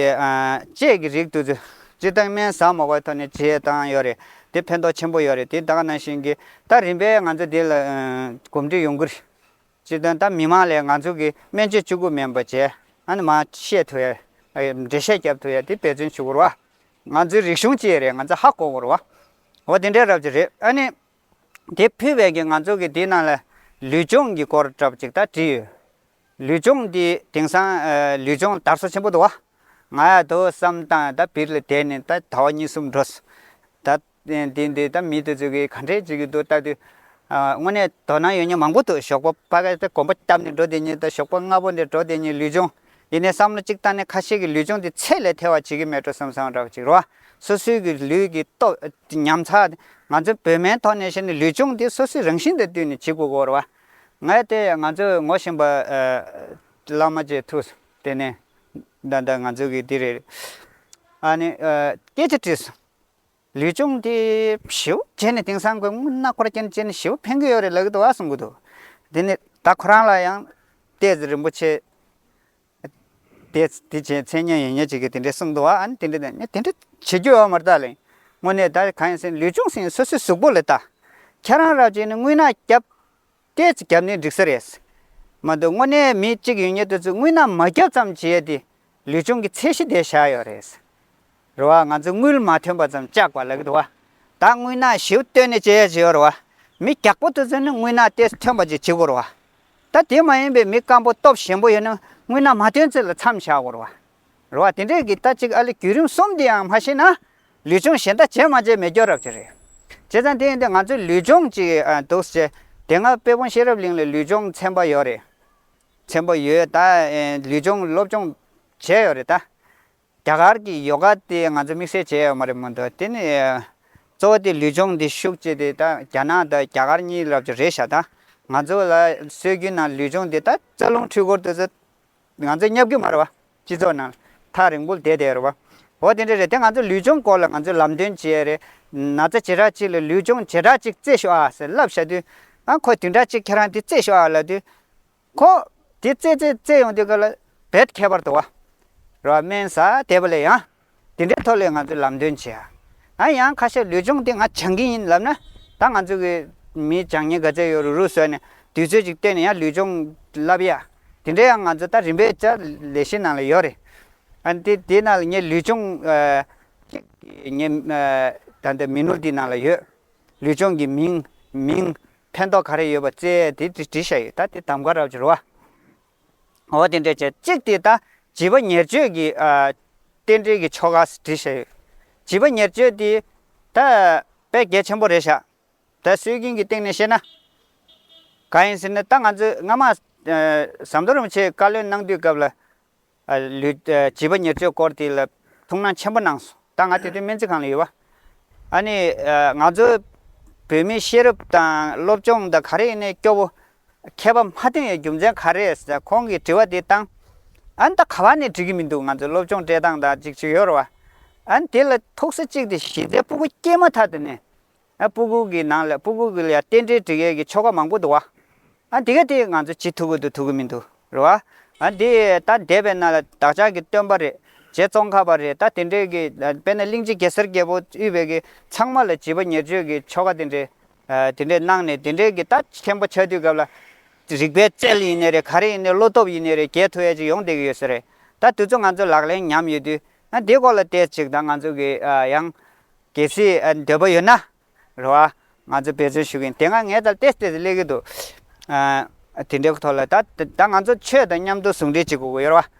དཔྱད་ཀྱི་རིགས་དུས་ཚོད་སྤྱིར་བཏང་སྨན་ཟ་མ་བའི་ཐོག་ནས་བྱས་བཏང་ཡོད་རེད་དེ་ཕན་ཐོགས་ཆེན་པོ་ཡོད་རེད་དེ་ད་ག་ནང་བཞིན་གི་ད་རིམ་པས་ང་ཚོས་དེ་ལ་གོམས་འདྲིས་ཡོང་གི་རེད་སྤྱི་དོན་ད་མི་མང་ལས་ང་ཚོ་གི་སྨན་བཅོས་བཅུ་དགུ་མེན་པོ་བཅས་ཨ་ནི་མ་བཤད་ཐུ་ཡ། འབྲེལ་བཤད་རྒྱབ་ཐུ་ཡ་དེ་འབད་བརྩོན་བྱུག་རོ། ང་ཚོའི་རིག་གཞུང་སྤྱི་ཡི་རེད་ང་ཚོ་ཧ་གོ་རོ། འོ་དེ་འདྲའི་རབ་ཅིག་རེད་ཨ་ནི། དེ་ཕུད་བས་ཀྱི་ང་ཚོ་གི་དེ་ནང་ལ་ལུས་སྦྱོང་གི་སྐོར་གྲབ་ཅིག་ད་བྲིས་ཡོད། ལུས་སྦྱོང་དེ་དེང་སང་ལུས་སྦྱོང་དར་སོ་ཆེན་པོ་འདུག་བ། ང་ཡ་དོ་བསམ་སྟངས་ད་བིར་ལ་དེད་ནས་ད་ད་བ་གཉིས་གསུམ་འགྲོ་སོ། ད། དེ་འདི་ལྟ་མི་འདི་ཟེར་གི་ག་འདྲས་བྱེད་ཀྱི་འདུག་ལྟ་དུས། དངོས་གནས་དོ་སྣང་ཡོད་མྱོང་མང་པོ་འདུག་ཞོགས་པ་ཕ་ག་དེ་གོམ་པ་བརྒྱབ་ནས་འགྲོ་དེ་ཉིད་དང་ཞོགས་པ་སྔ་པོ་འདིར་འགྲོ་དེ་ཉིད་ལུས་སྦྱོང། ཡིན་ནའི་བསམ་བློ་གཅིག་བཏང་ནས་ཁ་ཤས་ཀྱིས་ལུས་སྦྱོང་འདི་ཚད་ལས་ཐལ་བ་བྱེད་ཀྱི་མེད་འགྲོ་བསམ་བསམ་རག་ཅིག་རོ། སོ་སོའི་གི་ལུས་ཀྱི་སྟོབས་ཉམས་ཚགས་ཏེ། ང་ཚོའི་བོད་སྨན་ཐོག་ནས་བཤད་ནས་ལུས་སྦྱོང་འདི་སོ་སོའི་རང་བཞིན་དང་བསྟུན་ནས་བྱེད་དགོས་སྐོར་བ། ངས་དེ་ང་ཚོ་ངོ་བཞིན་པ། བླ་མ་བཅས་ཐུགས་བརྟེན་ནས། ད་ལྟ་ང་ཚོ་གི་འདི་རེད། ཨ་ནི། སྐད་ཆ་དྲིས་སོ། ལུས་སྦྱོང་དེ་བྱིའུ་བྱས་ནས་དེང་སང་གི་སྔོན་ན་འཁོར་སྐྱེལ་བྱས་ནས་བྱིའུ་འཕེན་གྱི་ཡོད་རེད་ལབ་གི་འདུག་ཨ་གསུང་གི་འདུག་དེ་ནས་ད་ཁོ་རང་ལ་ཡང་ལྟས་ཚེ་རིན་པོ་ཆེ་དེ་དེ་བྱས་མཚན་སྙན་ཡོད་ཉེས་བྱས་ཀྱི་དེ་འདྲས་གསུང་འདུག་ཨ་ནི་དེ་འདྲས་དེ་འདྲས་བྱེད་རྒྱུ་ཡོད་མ་རེད་ད་ལན་དངོས་གནས་ད་གང་ཡིན་ཟེར་ལུས་སྦྱོང་ཟེར་ནས་སོ་སོའི་གཟུགས་པོ་ལས་ད་ཁྱེད་རང་ར་བྱས་ནས་རྔུལ་ནག་བརྒྱབ་སྐད་ཅིག་བརྒྱབ་ནས་འགྲིག་ས་རེད། མ་འདུག་དངོས་གནས་མི་གཅིག་ཡོད་ཉེས་དོན་ཚོད་དངུལ་ནང་མ་བརྒྱབ་ཙམ་བྱས་ཏེ་ལུས་སྦྱོང་གི་ཚད་གཞི་དེ་བཞག་ཡོད་རེད། རེད་བ། ང་ཚོས་དངུལ་མ་ཐོན་པ་ཙམ་བཅག་པ་ལགས་རེད་བ། ད་དངུལ་ནང་ཞིབ་བཏོན་ནས་བྱས་ཡ་བྱས་ཡོད་རེད་བ། མི་རྒྱག་པོ་དེ་ཚོས་ནི་དངུལ་ནང་ལྟས་ཐོན་པ་ཅིག་བྱེད་དགོས་རེད་བ། ད་དེ་མ་ཡིན་པའི་མི་སྐམ་པོ་སྟོབས་ཞན་པོ་ཡོད་ན་དངུལ་ནང་མ་ཐོན་ཚོད་ལ་མཚམས་བཞག་དགོས་རེད་བ། རེད། རེད་བ། དེ་འདྲའི་གི་ལྟ་གཅིག་ཨ་ལི་བརྒྱུད་རིམ་གསུམ་འདིའང་མ་ཤེས་ན། ལུས་སྦྱོང་གཞན་དག་བྱས་མ་བྱས་མི་སྐྱོ་རབས་ཅིག་རེད། བྱས་ཙང་དེ་ཡིན་དུས་ང་ཚོས་ལུས་སྦྱོང་ཅིག་འདུག་བྱས། དེ་སྔ་དཔལ་སྤུངས་ཤེས་རབ་གླིང་ལས་ལུས་སྦྱོང་ཚན་པ་ཡོད་རེད། ཚན་པ་ཡོད་ད། ལུས་སྦྱོང་སློབ་སྦྱོང་བྱས་ཡོད་རེད་ད། རྒྱ་གར་གི་ཡོ་ག་དེ་ང་ཚོས་དམིགས་བསལ་བྱས་ཡོད་མ་རེད་མོད། དེ་ནི། གཙོ་བོ་དེ་ལུས་སྦྱོང་འདི་ཤུགས་བསྐྱེད་དེ་ད་རྒྱ་ནག་དང་རྒྱ་གར་གཉིས་རབས་ཅིག་རེད་ཤག་ད། ང་ཚོ་ལ་སྲོལ་རྒྱུན་ནང་ལུས་སྦྱོང་འདི་ད་རྩ་རླུང་འཕྲུལ་འཁོར་དུ། ང་ཚོའི་གཉའ་བསྒྱུར་མ་རེད་བ། སྤྱི་ཚོགས་ནང་ཐག་རིང་པོ་དེད་དེ་རེད་བ། འོ་དེ་འདྲ་རེད་དེ་ང་ཚོ་ལུས་སྦྱོང་སྐོར་ལ་ང་ཚོས་ལམ་སྟོན་བྱེད་ཡ་རེད། ན་ཚ་བྱེ་བྲག་ཅིག་ལ་ལུས་སྦྱོང་བྱེ་བྲག་ཅིག་རྩེས་ཤོག་ཨ་ཟེར་ལབ་བཞག་དུས། ཨ་ཁོ་དེ་འདྲ་ཅིག་ཁྱེད་རང་དེ་རྩེས་ཤོག་ཨ་ལབ་དུས། ཁོ། དེ་རྩེས་རྩེས་རྩེས་ཡོང་དུས་ཀ་ལ་བེད་ཁྱད་པར་དུ་བ། རེད་བ། སྨན་ཟ་དེད་པ་ལས་ཡང། དེ་འདྲའི་ཐོག་ལས་ང་ཚོས་ལམ་སྟོན་བྱེད་ཨ། ང་ཡང་ཁ་ཤས་ལུས་སྦྱོང་དེ་ང་སྦྱང་གི་ཡིན་ལབ་ན། ད་ང་ཚོ་གི་མིའི་སྦྱང་ཉེན་ག་ཚད་ཡོད་རུག་རུག་བཟོས་ནས་དུས་ཚོད་ཅིག་བཏོན་ནས་ཡང་ལུས་སྦྱོང་བསླབ་ཡ། དེ་འདྲའི་ཡང་ང་ཚོ་ད་རིམ་པས་ཅག་ལས་གཞི་ནང་ལ་ཡོད་རེད། ཨ་དེ་དེ་ནང་ལ་ངས་ལུས་སྦྱོང་ངས་ད་ལྟ་མི་ནོར་འདི་ནང་ལ་ཡོད། ལུས་སྦྱོང་གི་མིང་མིང་ཕན་ཐོགས་ག་རེ་ཡོད་པ་རྩལ་དེ་འབྲི་བཞག་ཡོད་ད་དེ་དམ་ག་ར་བྱེད་རོགས་ཨ། འོ་དེ་འདྲའི་བྱེད། གཅིག་དེ་དང་བྱིས་པ་ཉེར་སྤྱོད་ཀྱི། རྟེན་འབྲེལ་གྱི་ཆོ་ག་འདྲི་ཞེས་ཡོད། བྱིས་པ་ཉེར་སྤྱོད་དེ། ད། དཔེ་གལ་ཆེན་པོ་རེ་བཞག། ད་སྲོལ་རྒྱུན་གྱི་སྟེང་ནས་བཤད་ན། གང་ཡིན་ཟེར་ན་ད་ང་ཚོས་སྔ་མ། ཟམ་གདོང་རིན་པོ་ཆེས་བཀའ་བློན་གནང་དུས་སྐབས་ལ། ལུས། བྱིས་པ་ཉེར་སྤྱོད་སྐོར་དེ་ལ་ཐུགས་སྣང་ཆེན་པོ་གནང་སོང། ད་ང་དེ་དུས་སྨན་རྩིས་ཁང་ལ་ཡོད། ཨ་ནི། ང་ཚོ། བོད་མི་ཤེས་རབ་དང་སློབ་སྦྱོང་དང་ག་རེ་ཡིན་ནའི་སྐྱོ་བོ། མཁས་པ་མ་ཐོན་ཡོད་རྒྱུ་མཚན་ག་རེད་ཟེར་ན་ཁོང་གིས་དྲི་བ་འདི་བཏང། ཨན་ད་ག་བ་ནས་འགྲིག་གི་མི་འདུག་ང་ཚོའི་སློབ་སྦྱོང་སྤྲད་སྟངས་དང་ཅིག་ཅིག་ཡོད་རེད་བ། ཨན་དེ་ལ་ཐུགས་སེ་གཅིག་དེ་གཞི་རྩའི་སྤུ་གུ་སྐྱེས་མ་ཐག་ཏུ་ནས། ཨན་སྤུ་གུ་གི་ནང་ལ་སྤུ་གུ་གི་ལ་ཡང་རྟེན་འབྲེལ་འགྲིག་ཡོད་ཀྱི་ཆོ་ག་མང་པོ་འདུག་བ། ཨན་དེ་ག་དེ་ང་ཚོས་ཇི་ཐུབ་པོ་དུ་ཐུབ་ཀྱི་མི་འདུག་རེད་བ། ཨན་དེ་ད་འདས་པའི་ནང་ལ་བདག་ཅག་གི་སྟོན་པ་རེད། རྗེ་ཙོང་ཁ་པ་རེད་ད་དེ་འདྲས་ཀྱི་དཔེར་ན་གླིང་རྗེ་གེ་སར་རྒྱལ་པོ་དབུས་བོད་ཀྱི་ཚང་མ་ལ་བྱིས་པ་ཉེར་སྤྱོད་ཀྱི་ཆོ་ག་དེ་འདྲས་དེ་འདྲའི་སྣང་ནས་དེ་འདྲའི་གི་ད་མཁན་པོ་ཆགས་དུས་སྐབས་ལ། རིག་པའི་རྩལ་ཡིན་ནི་རེད་ག་རེ་ཡིན་ནི་བློ་སྟོབས་ཡིན་ནི་རེད་རྒྱས་ཐུ་ཡ་ཅིག་ཡོང་བསྡད་ཀྱི་ཡོད་ས་རེད། ད་དུས་ཚོད་ང་ཚོས་ལག་ལེན་ཉམས་ཡོད་དུས། ན་དེའི་སྐོར་ལ་བལྟས་ཅིག་དང་ང་ཚོ་གི་ཡང། གལ་སྲིད་འདོད་པ་ཡོད་ན། རེད་བ། ང་ཚོས་འབད་བརྩོན་ཞུ་གིན་དེ་སྔ་ངས་ད་བལྟས་བལྟས་སུ་སླེབས་ཀྱི་འདུག། དེ་འདྲའི་ཐོག་ལ་ད། ད་ང་ཚོ་ཆོས་དང་མཉམ་དུ་ཟུང་འབྲེལ་བྱེད་དགོས་ཀྱི་ཡོད་རེད་བ།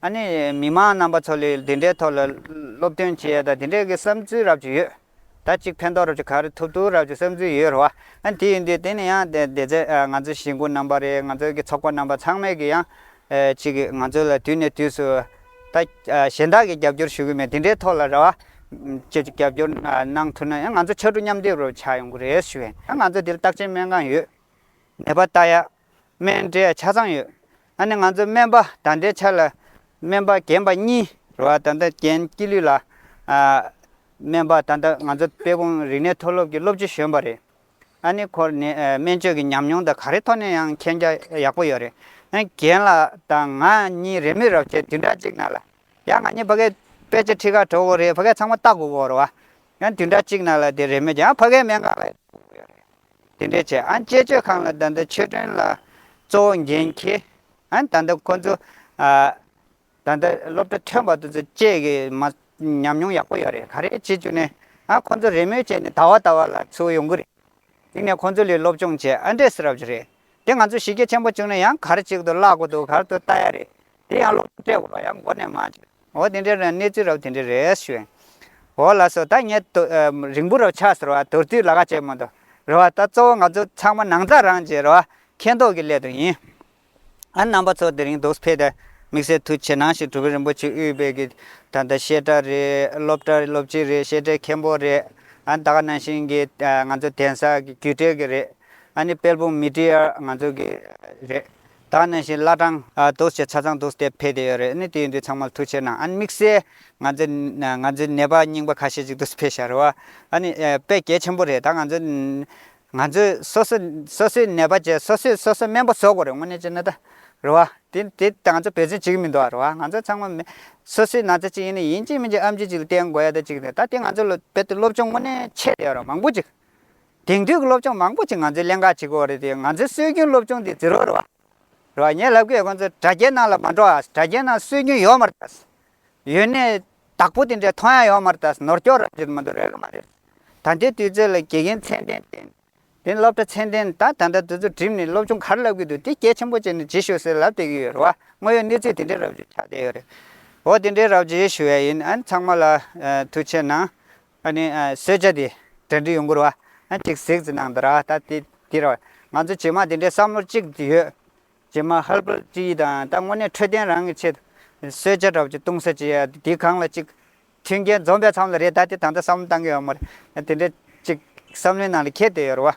ཨ་ནི་མི་མང་རྣམ་པ་ཚོ་ལས་འདི་འདྲའི་ཐོག་ལ་སློབ་སྟོན་བྱེད་ཡས་དང་དེ་འདྲའི་གི་བསམ་ཚུལ་རབ་ཅིག་ཡོད། ད་ཅིག་ཕན་ཐོག་རབ་ཅིག་ག་རེ་ཐུབ་ཐུབ་རབ་ཅིག་བསམ་ཚུལ་ཡོད་རེད་བ། ཨ་དེ་ཡིན་དུས་དེ་ནི་ཡང་དེ་དེ་ཚེ་ང་ཚོའི་གཞིས་འགོ་རྣམ་པ་རེད་ང་ཚོའི་གི་ཚོགས་པ་རྣམ་པ་ཚང་མས་གི་ཡང་ཅིག་གི་ང་ཚོ་ལ་དུས་ནས་དུས་སུ་ད་གཞན་དག་གི་རྒྱབ་སྐྱོར་ཞུ་གི་མེད་དེ་འདྲའི་ཐོག་ལ་རེད་བ། ཅིག་ཅིག་རྒྱབ་སྐྱོར་གནང་ཐུབ་ན་ཡང་ང་ཚོ་ཕྱར་གྲུ་མཉམ་སྡེབ་རུ་ཆགས་ཡོང་གི་རེད་ཞུ་ཡས། ང་ཚོ་དེ་ལ་རྟགས་ཅན་སྨན་གང་ཡོད། ནད་པ་ལྟ་ཡས། སྨན་འབྲས་ཆ་ཚང་ཡོད། ད་ནི་ང་ཚོས་སྨན་པ་དང་འབྲས་ཆ་ལ་སྨན་པ་རྒན་པ་གཉིས་རེ་བ་ད་ལྟ་རྒན་སྐྱིད་ལུས་ལགས། སྨན་པ་ད་ལྟ་ང་ཚོ་དཔལ་སྤུངས་རིག་གནས་མཐོ་སློབ་ཀྱི་སློབ་སྤྱི་གཞོན་པ་རེད། ཨ་ནི་ཁོར་ནི་སྨན་བཅོས་ཀྱི་ཉམས་མྱོང་དང་ག་རེ་ཐོག་ནས་ཡང་མཁྱེན་རྒྱ་ཡག་པོ་ཡོད་རེད། རྒན་ལགས་དང་ང་གཉིས་རེས་མོས་རབས་ཆད་དུས་འདྲ་གཅིག་ན་ལ། ཡང་ང་གཉིས་ཕ་གའི་དཔེ་ཆ་ཁྲི་ཁ་གྲོ་གོ་རེའི་ཕ་གའི་ཚང་མ་བལྟ་དགོས་པོ་རེད་བ། ཡང་དུས་འདྲ་གཅིག་ན་ལ་དེ་རེས་མོས་ཀྱང་ཕ་གའི་སྨན་ཁང་ལ་ཡོད་རེད། དེ་འདྲའི་ཆེད་ཨན་དཔྱད་བརྗོད་ཁང་ལ་ད་ལྟ་ཆོས་སྒྲོན་ལགས་གཙོ་བོ་འགན་འཁྱེར། ཨན་ད་ལྟ་ཁོ་ཚོ། ད་ལྟ་སློབ་གྲྭ་ཐོན་པ་དུ་ཚོད་བཅས་ཀྱི་མ་ཉམས་མྱོང་ཡག་པོ་ཡོད་རེད་ག་རེ་བྱེད་བཅུག་ནས་ཨ་ཁོ་ཚོ་རེས་མོས་བྱས་ནས་ད་བ་ད་བ་ལ་ཚུད་ཡོང་གི་རེད། དེང་ནས་ཁོ་ཚོ་ལས་སློབ་སྦྱོང་བྱས་ཨ་འདྲེས་རབས་རེད་དེ་ང་ཚོ་གཞི་རྒྱ་ཆེན་པོ་བཅུག་ན་ཡང་གར་གཅིག་ཏུ་བརླག་གོ་འདུག་གར་དུ་ལྟ་ཡ་རེད་དེ་ཡང་ལོ་འབྲས་བུ་ལོ་ཡང་མགོ་ནས་མ་འཆི། འོ་དེ་འདྲའི་རང་གནས་ཚུལ་རབ་དེ་འདྲའི་རེ་ཞུ་ཨེ། འོ་ལགས་སོ་ད་ངས་དོ། རིང་པོ་རོ་ཆགས་ཟེར་བ་དོར་དུས་ལ་ཁ་བྱས་མོ་འདུག་རེད་བ་ད་གཙོ་བོ་ང་ཚོ་ཚང་མ་ནང་རྩ་རང་གཅེས་རེད་བ་མཁས་མདོག་གི་སླད་དུ་ཡིན། ཨ་རྣམ་པ་ཚོ་དེ་རིང་དུག་འཕེལ་ཏེ་དམིགས་བསལ་ཐུགས་ཆེ་གནང་ཞིག་གྲུབ་བོན་རིན་པོ་ཆེ་དབུས་པའི་གི་ད་ལྟ་བཤད་གྲྭ་རེད་སློབ་གྲྭ་སློབ་སྤྱི་རེད་བཤད་གྲྭའི་མཁན་པོ་རེད་ཨ་ད་ག་ནང་བཞིན་གི་ང་ཚོ་གདན་ས་གི་རྒྱུད་གྲལ་གི་རེད་ཨ་ནི་དཔལ་སྤུངས་མི་ཏྲི་ཡར་ང་ཚོ་གི་རེད། ད་ནས་བཞིན་བླ་བྲང་དུ་ཆེས་ཆ་ཚང་དུ་སྟེགས་འཕེལ་ཏེ་ཡོད་རེད་ནི་དེ་ཡིན་དུས་ཚང་མ་ལ་ཐུགས་ཆེ་ན་ཨ་ནི་དམིགས་བསལ་ང་ཚོའི་ང་ཚོའི་ནད་པ་རྙིང་པ་ཁ་ཤས་ཅིག་དུ་འཕེལ་ཤར་བ་ཨ་ནི་དཔེ་གལ་ཆེན་པོ་རེད་ད་ང་ཚོ་ང་ཚོས་སོ་སོ་སོ་སོའི་ནད་པ་བཅས་སོ་སོས་སོ་སོའི་སྨན་པ་བཟོ་དགོས་རེད་དངོས་གནས་བྱས་ན་ད་རེད་བ། དེ་དེ་ད་ང་ཚོ་བེད་སྤྱོད་བྱེད་ཀྱི་མི་འདུག་ཨ་རེད་བ་ང་ཚོ་ཚང་མ་མི་སོ་སོའི་ན་ཚ་ཅིག་ཡིན་ན་ཡིན་གཅིག་མིན་གཅིག་ཨམ་ཆིག་ཅིག་ལ་བསྟེན་དགོས་ཡ་ད་ཅིག་རེད་ད་དེ་ང་ཚོ་ལ་རྦད་དེ་སློབ་སྦྱོང་དངོས་གནས་ཆེད་དུ་ཡོད་རེད་བ་མང་པོ་ཅིག་དེང་དུས་ཀྱི་སློབ་སྦྱོང་མང་པོ་ཅིག་ང་ཚོས་ཀླན་ཀ་བྱེད་དགོས་རེད་དེ་ང་ཚོའི་སྲོལ་རྒྱུན་སློབ་སྦྱོང་འདི་ཛིརོ་རེད་བ། རེད་བ། ངས་ལབ་ཀི་ཡོད་ཁོང་ཚོས་དྲ་རྒྱའི་ནང་ལ་མ་འགྲོ་ཨ། དྲ་རྒྱའི་ནང་སྲོལ་རྒྱུན་ཡོད་མ་རེད་ཨ། ཡོད་ནས། བདག་པོ་དེ་འདྲའི་མཐོང་ཡ་ཡོད་མ་རེད་ཨ་ནོར་སྐྱོར་ར་རྒྱུ་དུ་མ་འདུག་རེད་གི་མ་རེད། ད་ལྟའི་དུས་ཚོད་ལ་དགེ་རྒན་ཚད་ལྡན་བསྟེན། དེ་ནས་སློབ་གྲྭ་ཚད་ལྡན་ད་ད་ལྟ་དུས་ཚོད་བསྒྲིམས་ནས་སློབ་སྦྱོང་ག་རེ་ལབ་ཀི་འདུག་དེ་སྐད་ཆེན་པོ་བྱས་ནས་ཇི་ཞུ་ཟེར་ལབ་བསྡད་ཀི་ཡོད་རེད་བ། དངོས་ཡོད་གནས་ཚུལ་དེ་འདྲའི་རབ་བྱུས་ཆགས་བསྡད་ཡོད་རེད། འོ་དེ་འདྲའི་རབ་བྱུས་ཞུ་ཡ་ཡིན་ཨ་ཚང་མ་ལ། ཐུགས་ཆེ་གནང། ཨ་ནི་གསོལ་ཇ་དེ་འདྲ་འདྲི་ཡོང་གི་རེད་བ། ཅིག་གཟིགས་ཙི་གནང་དང་ར་ད་དེ་དེ་རེད་བ། ང་ཚོ་བྱེས་མ་དེ་འདྲའི་བསམ་བློ་གཅིག་ཏུ་ཡོད། བྱེས་མ་ཧལ་པོ་ཅི་ཡིས་དང་ད་དངོས་གནས་འཕྲོད་བསྟེན་རང་གི་ཆེད་དུ་གསོལ་ཇ་འདྲ་པོ་ཅིག་གཏོང་ས་ཅི་ཡ་དེ་གང་ལ་ཅིག་མཐུན་རྐྱེན་འཛོམས་པའི་མཚམས་ལ་རེད་ད་དེ་ད་ལྟ་བསམ་བློ་བཏང་གི་ཡོད་མ་རེད། དེ་འདྲའི་ཅིག་བསམ་བློའི་ནང་ལ་ཁྱད་དུ་ཡོད་རེད་བ།